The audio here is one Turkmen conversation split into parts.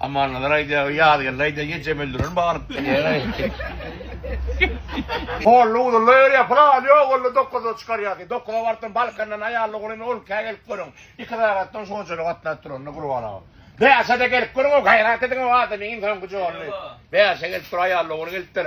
Amannazaray diýýär, o Ýazgeldi aýdýar, ýeňjem öldürerin baryp diýýär. Holla uzynda ýörýär, pylan ýok onda dokuzda çykarýar diýip, dokuza barypdym, Balkandan aýally oglan on ikä gelip görüň, iki sagat soň şonçalyk gatnap duranda Gurban aga. Bäşe-de gelip görüň, o gaýrat ediň, o adamyň iň soňky jolly. Bäşe gelip dur, aýally oglan gelipdir.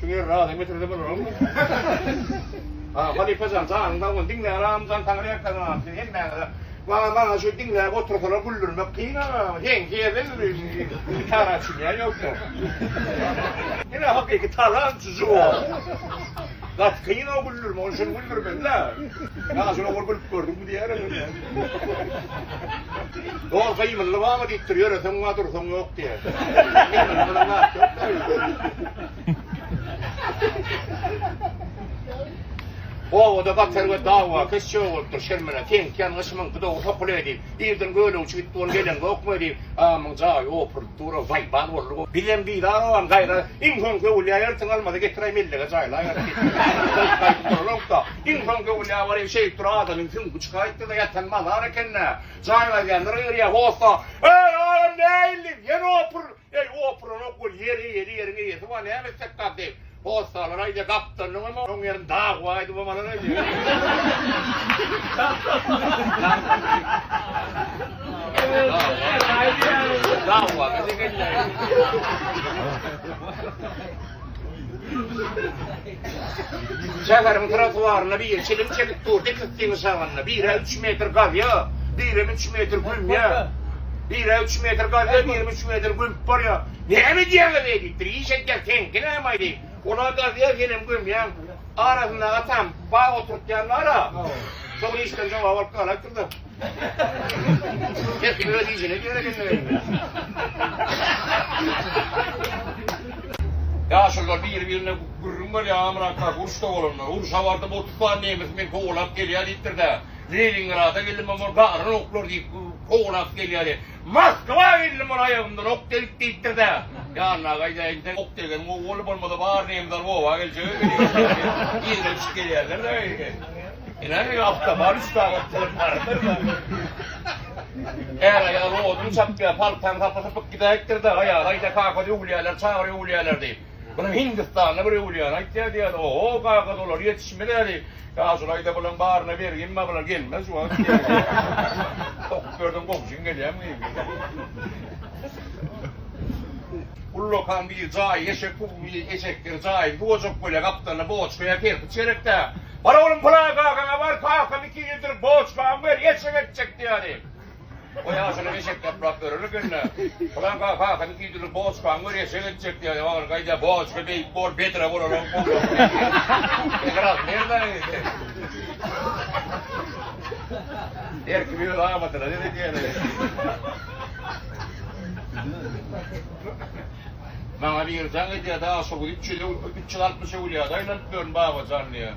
Şu ýeri razymy getirse bolarmy? Ha, halypa jan, janyň sag bolsun. Diňle agam, jan saňa reklama gapdy. Hemmäňize. Maňa maňa şu diňläp otursalar güldürmek kyn agam. Heň herde ýörüýşi. Gitara çynýan ýoksa. Ine hakyky talant juwo. Gaty kyn o güldürmek, ony şuny güldürmeli-dä. Ýa şuny ogul gülüp gördüňmi diýer. Dol gymylly bamy diýipdir, ýöreseň bar, dursaň ýok diýýär. Gymylly bilen zat ýok-da öýde. Obada batyr we dawakeş jög bolupdyr, Şirmene, teňki ýan gyşymyňky dogy sokuly diýip, irden gölegçi gitdi, ony geleňokmy diýip, amyň jaýy opurylyp dur-a, waýbal boldy. Bizem bizar ogam, gaýra, iň soňky öwülýä ertiň almady getiräý, mellege jaýlaýaly diýip, gaýdyp duralok-da. Iň soň göwünli awaryň şeýip dur adamyň süňňi çykaýypdyr-da ýatan mazar eken-dä. Jaýyň aýdýanlar gygyrýar, Hossa, eý, adam näilli, ýene opur! Eý, opuranok bol, ýer eýeli, ýeriň eýesi bar, näme etsek bar diýip, hossalar aýdýar, Gapdalnyňam oň ýerini daguwa aýdybam alar aýdýar. Şäheriň trotuarynda biri çilim çekip dur, dik ikisiniň şagalynda. Birä üç metr gazýa, birem üç metr gümýä. Birä üç metr gazýa, birem üç metr gümüp barýa. Näme edýäňiz eý diýipdir. Iş edýäs, seňki nämaý diýip. Ol-a gazýa, senem gümýäň. Arasynda atam bag oturtýanlar-a. Şol işden jogap alyp galarsyňyz. Her kim öz işine göre gelmeginde. Ýaşulylar biri-birine gürrüň berýär, Amrakka uruşda bolanlar. Urşa bardym, otuz sany nemes meni kowalap gelýär diýipdir-de, Leningrada geldim, ol baryny oklur diýip, kowalap gelýär. Moskwa geldim ol aýagymdan ok degip diýipdir-dä. Ýanyna gaýdaýyn-da, ok degen gowy boldy, bolmasa bary nemes alyp oba geljek ekeni. Yzyna düşüp gelýärler-de. Ine, awtobar üç sagat çyzyp bardyr-da. Är-aýal odun çapýar, paltany sapy-sypyk gidäýipdir-de, aýaly aýdýar, Kaka öwülýärler, çagyr öwülýärler diýip. Muny Hindistanly bir öwlýany aýtýar diýýärdi. Oho, kagyz olar ýetişmezädi. Ýa şulaýda bulaň baryna bergin bar, bular gelmez şu wagt diýýärdi. Okup berdiň, gowşuň gelýämi diýip. Ullakan bir jaý, eşek bu eşekdir, jaýyny bu ojak bolýar, gapdalyna boçka ýa kerpiç gerek-dä. Bar oglum, pylan kakaňa bar, kakam iki ýyldyr boçkamy ber, eşek etjek diýýärdi. Goý aşyny eşek ýaplap örer ekeni-dä. Pylanka kakyny iýdirip boçkaň bir eşek etjek diýýär. Ogly gaýda boçka beýik bol, bedre bolarok bolmaz diýýär. Ygrasy nereden edýär? Her kim öz amadyna seredýär. Maňa biri jaň edýär-de, Aşyr, üç ýüz altmyş öwlüýäde aýlanyp ýörün, Babajan diýýär.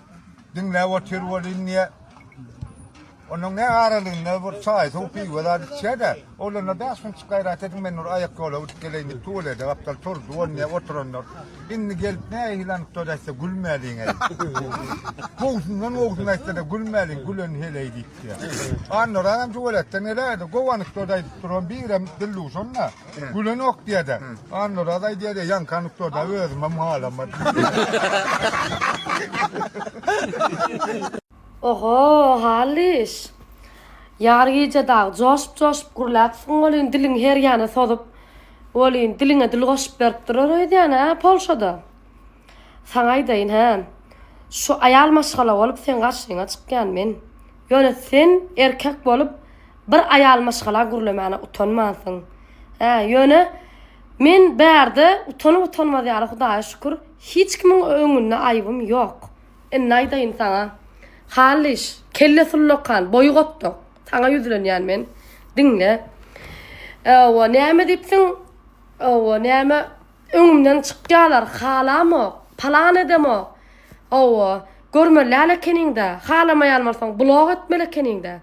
Diňläp otyr welin niýe? Onuň ne aralygynda bir çaý, suw, piwe zat içýä-de, oglana bäş minutjyk gaýrat ediň, men bir aýak ýola gidip geleýin diýip, tuwelede gapdal turdy, ol niýe oturandyr. Indi gelip nähili anyk söz aýtsa gülmäliň-eý. Gowusyndan gowusyny aýtsa-da gülmäliň, gülen heleý diýipdi. Annaran hem tuweletden geläýdi, gowy anyk söz aýdypdyr, onuň birem dildüwşen-dä. Gülenok diýer-de. Annuraz aýdýar, ýaňky anekdota özümem halamady. Oho, Hallyş! Ýar gije dagy joşup-joşup gürläpsiň welin, diliňi her ýana sozup, welin, diliňe dil goşup berip duran öýdýän-ä, Polşada! Saňa aýdaýyn hä. Şu aýal maşgala bolup seň garşyňa çykýan men. Ýöne sen erkek bolup bir aýal maşgala gürlemäne utanmansyň. Hä, ýöne men bärde utanyp-utanmaz ýaly Hudaýa şükür hiç kimiň öňünde aýybym ýok. Indi aýdaýyn saňa. Hallyş, kelle sullakan, boýy gotduk. Saňa ýüzlenýän men. Diňle. Owa, näme diýipsiň? Owa, näme Öňümden çykýalar, halamok, palan edemok. Hawa, görmeli-ä ekeniň-dä, halamaýan bolsaň, blog etmeli ekeniň-dä.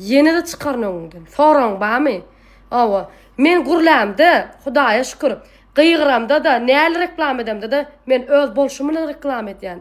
Ýene-de çykaryn öňüňden. Soragyň barmy? Hawa, men gürlämde, Hudaýa şükür, gygyramda-da, näli reklama edemde-de, men öz bolşum bilen reklama edýän.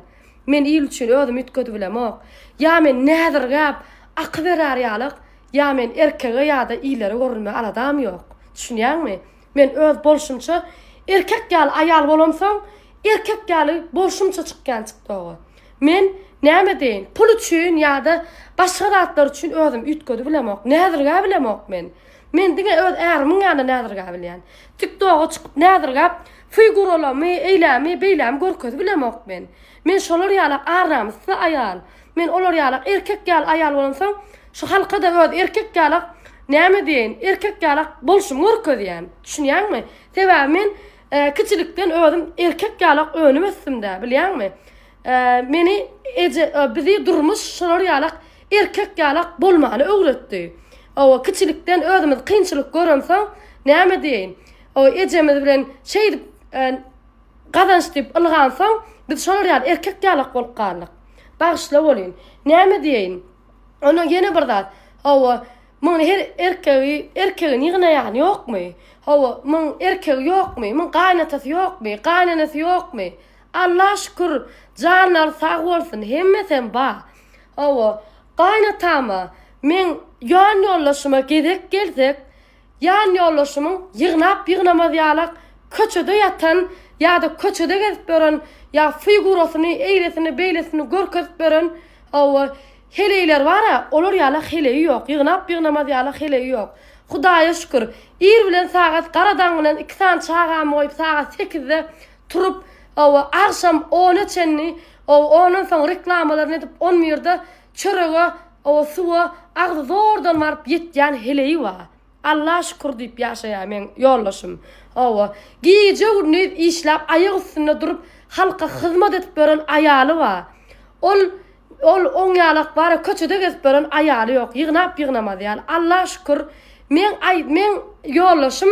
Men il üçin özümi üýtgedip bilemok. Ýa men näzirgäp, aky berär ýalyk, ýa men erkege ýa-da ilere görünmä aladam ýok. Düşünýäňmi? Men öz bolşumça erkek ýaly aýal bolamsoň, erkek ýaly bolşumça çykýan çykdoga. Men näme deýin, pul üçin ýa-da başga zatlar üçin özüm üýtgedi bilemok, näzirgä bilemok men. Men diňe öz ärimiň ýanyna näzirgä bilýän. Tiktoga çykyp näzirgäp, figuralamy, eýlämi, beýlämi görkezi bilemok men. Men şolar ýalak arramyssy aýal. Men olar ýalak erkek ýaly aýal bolansoň, şu halka-da öz erkek ýalak, näme diýeýin, erkek ýalak bolşumy görkezýän. Düşünýäňmi? Sebäbi men kiçilikden özüm erkek ýalak önüp ösdüm-dä, bilýäňmi? Meni eje, bizi durmuş şolar ýalak erkek ýalak bolmany öwretdi. Hawa, kiçilikden özümiz kynçylyk görensoň, näme diýeýin, ejemiz bilen şeýdip, Gazanç diýip ylgansoň, biz şolar ýaly erkek ýalak bolup galdyk. Bagyşla bolýyn. Näme diýeýin? Ondan ýene bir zat. Hawa, muňa her erkegi, erkegini ýygnaýan ýokmy? Hawa, muň erkegi ýokmy? Muň gaýynatasy ýokmy? Gaýynenesi ýokmy? Alla şükür, janlary sag bolsun, hemmesem bar. Hawa, gaýynatama, meň ýan ýoldaşyma gezek gelsek, Ýan ýoldaşymyň ýygnap ýygnamaz ýalak köçede ýatan ýa-da köçede gezip ýören ýa figurasyny eýlesini beýlesini görkezip ýören hawa heleýler bar-a olar ýalak heleýi ýok ýygnap ýygnamaz ýalak heleýi ýok Hudaýa şükür ir bilen sagat gara daň bilen iki sany çagamy goýup sagat sekizde turup hawa agşam ona çenli hawa ondan soň reklamalaryny edip on birde Çörege, oba suwa agzy zordan baryp ýetýän heleýi bar. Alla şükür diýip ýaşaýar meň ýoldaşym. Oba, gije-gündiz işläp aýak üstünde durup halka hyzmat edip ýören aýaly bar. Ol, ol oň ýaly akbary köçede gezip ýören aýaly ýok. Ýygnap-ýygnamaz ýaly. Alla şükür, meň aý, meň ýoldaşym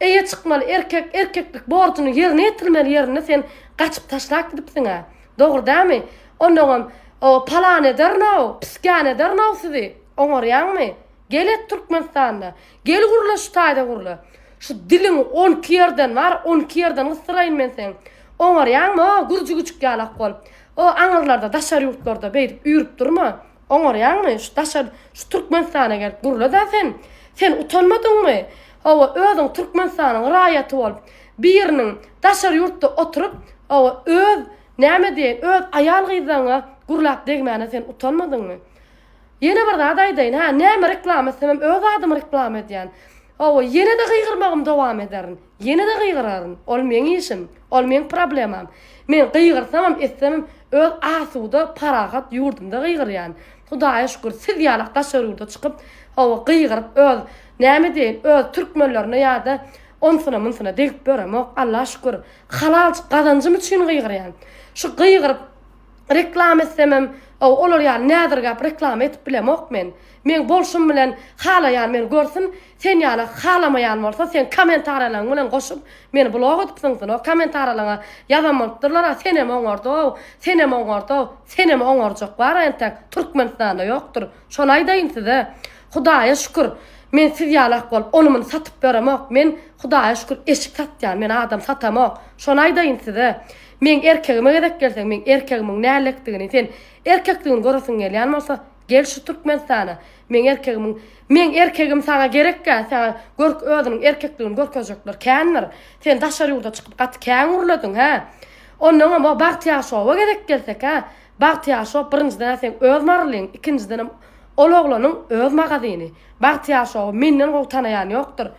Eýe çykmaly erkek erkeklik borjuny ýerine ýetirmeli ýerinde sen gaçyp taşlap gidipsiňä dogry dämi onnoňam o palan ederinow piskan ederinow sizi oňarýaňmy gel et türkmenistanda gel gurla şu taýda gurla şu diliňi on iki ýerden bar on iki ýerden gysdyraýyn men seň oňarýaňmy o gürji güjük ýalak bolup o aňyrlarda daşary ýurtlarda beýdip üýrüp durma. Oňarýaňmy? Şu daşa şu Türkmenistana gelip gurla-da sen. Sen utanmadyňmy? Hawa, özüň Türkmenistanyň raýaty bolup, biriniň daşary ýurtda oturyp, hawa, öz, näme diýeýin, öz aýal-gyzlaryňa gurlap degmäne sen utanmadyňmy? Ýene bir zat aýdaýyn, hä, näme reklama etsemem öz adymy reklama edýän. Hawa, ýene-de gygyrmagym dowam ederin. Ýene-de gygyraryn. Ol meň işim. Ol meň problemam. Men gygyrsamam, etsemem, öz asuda, parahat ýurdumda gygyrýan. Hudaýa şükür, siz ýalak daşary ýurda çykyp, hawa, gygyryp, öz, näme diýeýin, öz türkmenlerine ýa-da onsuna-munsuna degip ýöremok. Alla şükür, halalçyk gazanjym üçin gygyrýan. Şu gygyryp, reklama etsemem, hawa, olar ýaly näzirgäp reklama edip bilemok men. Meň bolşum bilen halaýan meni görsün, Sen ýaly halamaýan bolsa seň komentaralaň bilen goşup meni blok edip zyňsyn o komentaralaňa ýazan bolupdyrlar a senem oňardow senem oňardow senem oňarjak bar entek türkmenistanda ýokdyr şony aýdaýyn size hudaýa şükür men siz ýalak bolup ony muny satyp ýöremok men hudaýa şükür eşik satýan men adam satamok şony aýdaýyn size meň erkegime gezek gelse meň erkegimiň nällekdigini sen erkekdigini göresiň gelýän bolsa Gel şu Türkmenistana. Meň erkegimiň Meň erkegim saňa gerekkä? Saňa görk özüniň erkekligini görkezjekler kändir. Sen daşary ýurda çykyp gaty kän gürlediň, hä? Onnoňam o Bagtyýar şowa gezek gelsek, hä? Bagtyýar şow birinjiden-ä seň öz marylyň, ikinjidenem ol oglanyň öz magazyny. Bagtyýar şowy menden gowy tanaýan ýokdur.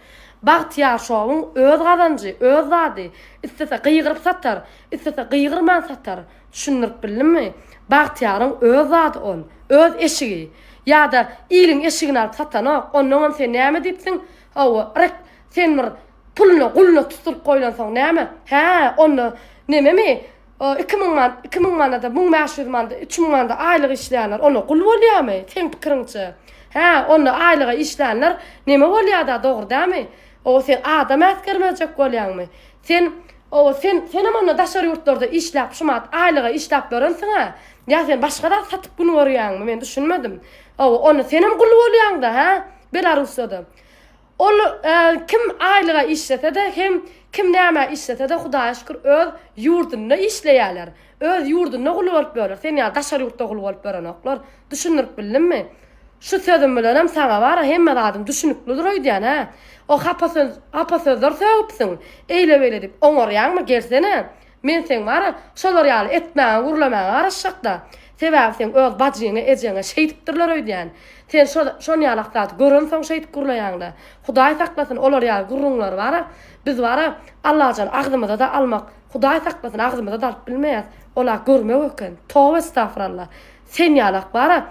Bagtyýar şowyň öz gazanjy, öz zady. Islese gygyryp satar, islese gygyrman satar. Düşündirip bildimmi? Bagtyýaryň öz zady ol. Öz eşigi. Ýa-da iliň eşigini alyp satanok. Onnoňam sen näme diýipsiň? Hawa, rek, sen bir puluna, guluna tutduryp goýlansoň näme? Hä, onda nememi? Iki müň man, iki müň manada, müň bäş ýüz manda, üç müň manda aýlyk işleýänler onda gul bolýamy, seň pikiriňçe? Hä, onda aýlyga işlänler neme bolýada, dogry dämi? O, sen adam äsgermezjek bolýaňmy? Sen Owo sen senem onda daşary ýurtlarda işläp şu manat aýlyga işläp ýörensiňä ýa sen başga zat satyp gün görýäňmi men düşünmedim owo onda senem gul bolýaňda hä belarussiýada ol kim aýlyga işlesede hem kim nämä işlesede hudaýa şükür öz ýurdunda işleýäler öz ýurdunda gul bolup ýörler sen ýaly daşary ýurtda gul bolup ýörenoklar düşündirip bildimmi. Şu sözüm bilenem saňa bar-a hemme zadyň düşüniklidir öýdýän-ä. O hapa söz, hapa sözler sögüpsiň, eýle-beýle diýip oňarýaňmy, gelsene. Men seň bar-a, şolar ýaly etmäňe, gürlemäňe garaşjak-da. Sebäbi seň öz bajyňa, ejeňe şeýdipdirler öýdýän. Sen şo, şon ýalak zady görensoň şeýdip gürleýäň-dä. Hudaý saklasyn, olar ýaly gürrüňleri bar-a, biz bar-a, Allajan agzymyza-da almak, Hudaý saklasyn, agzymyza-da alyp bilmeýäs. Ol-a görmek eken. Toba estagfuralla. Sen ýalak bara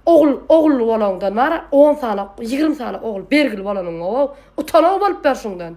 ogul ogully bolaňdan bara on sany ýigrimi sany ogul bergil bolanyňow utan-ow bolup ber şuňdan.